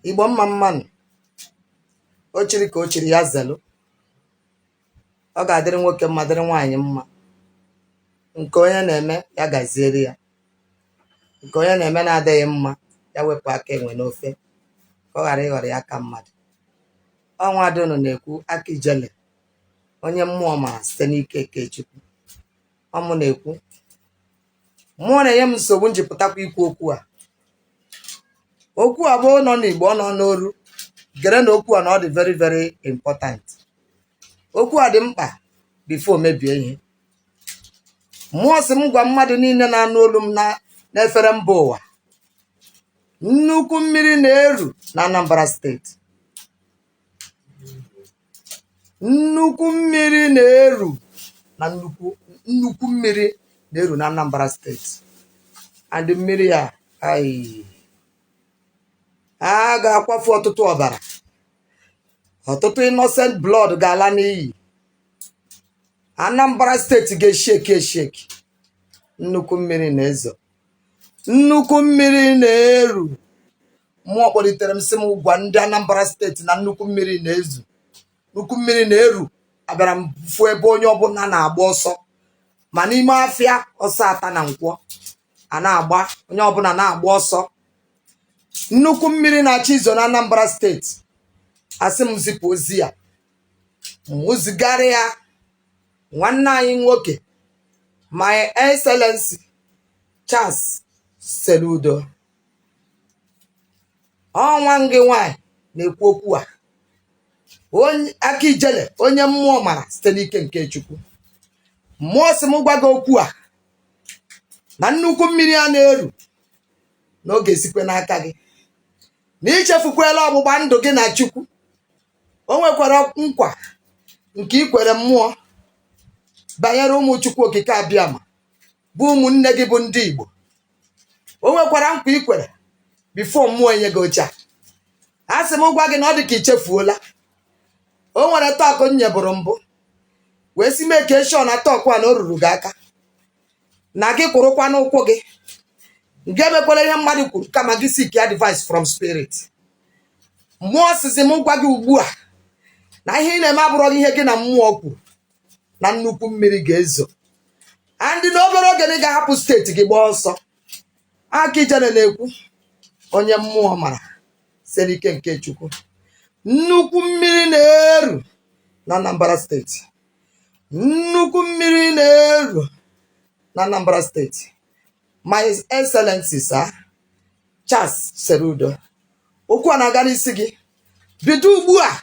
igbo mma mma nụ o chiri ka o chiri ya zelu ọ ga-adịrị nwoke mma dịrị nwaanyị mma nke onye na-eme ya gaziere ya nke onye na-eme na-adịghị mma ya wepụ aka enwe n'ofe ka ọ ghara ịghọrọ ya aka mmadụ ọ nwada unu na-ekwu aka ijele onye mmụọ mara site n'ike nke chukwu ọ mụ na-ekwu mmụọ na-enye m nsogbu m ji pụtakwa ikwu okwu a okwu a bụ ọ nọ n'igbo ọ nọ n'oru gere na okwu a na ọ dị very very important okwu a dị mkpa before mebie ihe mmụọ sị m gwa mmadụ niile na-anụ olu m na- n'efere mba ụwa nnukwu mmiri na-eru na anambra steeti nnukwu mmiri na-eru na nnukwu nnukwu mmiri na-eru na Anambra steeti and mmiri a a ga-akwafu ọtụtụ ọbara ọtụtụ innocent blood ga-ala n'iyi Anambra steeti ga-esheki esheki nnukwu mmiri na-ezo nnukwu mmiri na-eru mmụọ kpọlitere m sị m gwa ndị anambra steeti na nnukwu mmiri na-ezo nnukwu mmiri na-eru abịara m fụ ebe onye ọbụna na-agba ọsọ ma n'ime afịa ọsọ ata na nkwọ a na-agba onye ọbụna na-agba ọsọ nnukwu mmiri na-achọ izo na anambra steeti a sị m zipụ ozi a m zigara ya nwanne anyị nwoke my excellency charles soludo ọ nwanne gị nwanyị na-ekwu okwu a onye aka ijele onye mmụọ mara site n'ike nke chukwu mmụọ sị m gwa gị okwu a na nnukwu mmiri a na-eru na ọ ga-esikwe n'aka gị na i chefukwela ọgbụgba ndụ gị na chukwu o nwekwara nkwa nke i kwere mmụọ banyere ụmụ chukwu okike abịama bụ ụmụnne gị bụ ndị Igbo o nwekwara nkwa i kwere before mmụọ enye gị oche a a sị m gwa gị na ọ dị ka i chefuola o nwere talk m nyeburu mbụ wee sị make sure na talk a na o ruru gị aka na gị kwụrụkwa n'ụkwụ gị gị emekwala ihe mmadụ kwuru kama gị seek advice from spirit mmụọ sịzị m gwa gị ugbu a na ihe ị na-eme abụrọ ihe gị na mmụọ kwuru na nnukwu mmiri ga-ezo and na obere oge na ị ga-ahapụ steeti gị gbaa ọsọ aka ijere na-ekwu onye mmụọ mara site n'ike nke chukwu nnukwu mmiri na-eru na anambra steeti nnukwu mmiri na-eru na anambra steeti my excellency sir charles soludo okwu a na-aga n'isi gị bido ugbu a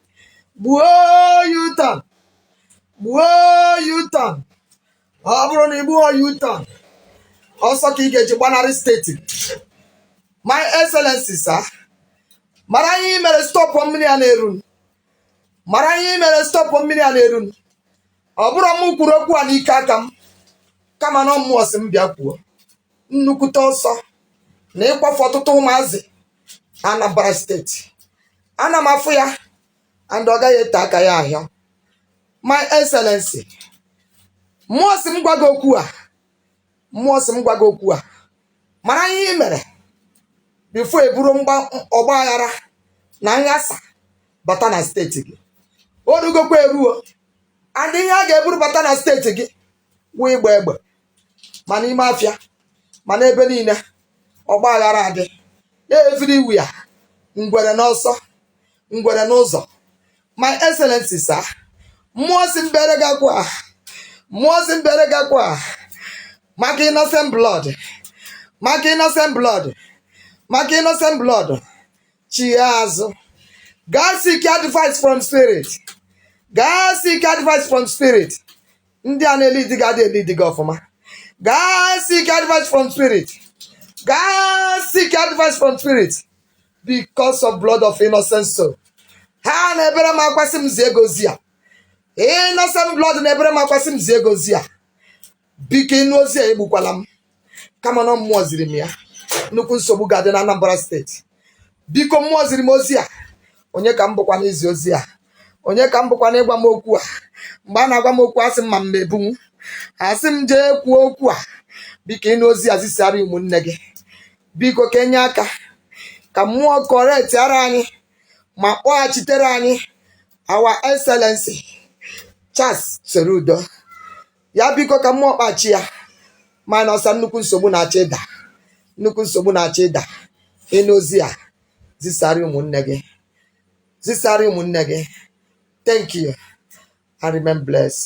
gbuo u-turn gbuo u-turn ọ bụrụ na i gbuhọ u-turn ọsọ ka ị ga-eji gbanarị steeti my excellency sir mara ihe ị mere stọpụ mmiri a na-eru mara ihe ị mere stọpụ mmiri a na-eru ọ bụrọ m kwuru okwu a n'ike aka m kama na ọ mmụọ sị m bịa kwuo nnukwute ọsọ na ịkwafu ọtụtụ ụmụazị Anambra steeti ana m afụ ya and ọ gaghị ete aka ya ahịa my excellency mmụọ sị m gwa gị okwu a mmụọ sị m gwa gị okwu a mara ihe ị mere before eburu mgba- ọgba aghara na nghasa bata na steeti gị o rugokwa eruo and ihe a ga-eburu bata na steeti gị wụ ịgba egbe ma n'ime afịa ma n'ebe niile ọgba aghara adị everywhere ngwere n'ọsọ ngwere n'ụzọ my excellency sir mmụọ sị m bere gị akwa a, mmụọ sị m bere gị akwa a, maka innocent blood maka innocent blood maka innocent blood chigha azụ gaa seek advice from spirit gaa seek advice from spirit ndị a na-elidi gị adị elidi gị ọfụma gaa seek advice from spirit gaa seek advice from spirit because of blood of innocent soul ha na-ebere m akwa sị m zie gị ozi a innocent blood na-ebere m akwa sị m zie gị ozi a biko ị nụ ozi a egbukwala m kama na ọ mmụọ ziri m ya nnukwu nsogbu ga-adị na Anambra steeti biko mmụọ ziri m ozi a onye ka m bụkwa n'izi ozi a onye ka m bụkwa n'ịgwa m okwu a mgbe a na-agwa m okwu asị m ma m ebunwu a sị m jee kwuo okwu a biko ị nụ ozi a zisara ụmụnne gị biko ka e nye aka ka mmụọ kọretiara anyị ma kpọghachitere anyị our excellency Charles Soludo ya biko ka mmụọ kpachi ya mana ọsa nnukwu nsogbu na-achọ ịda nnukwu nsogbu na-achọ ịda ị nụ ozi a zisara ụmụnne gị zisara ụmụnne gị thank you and remain blessed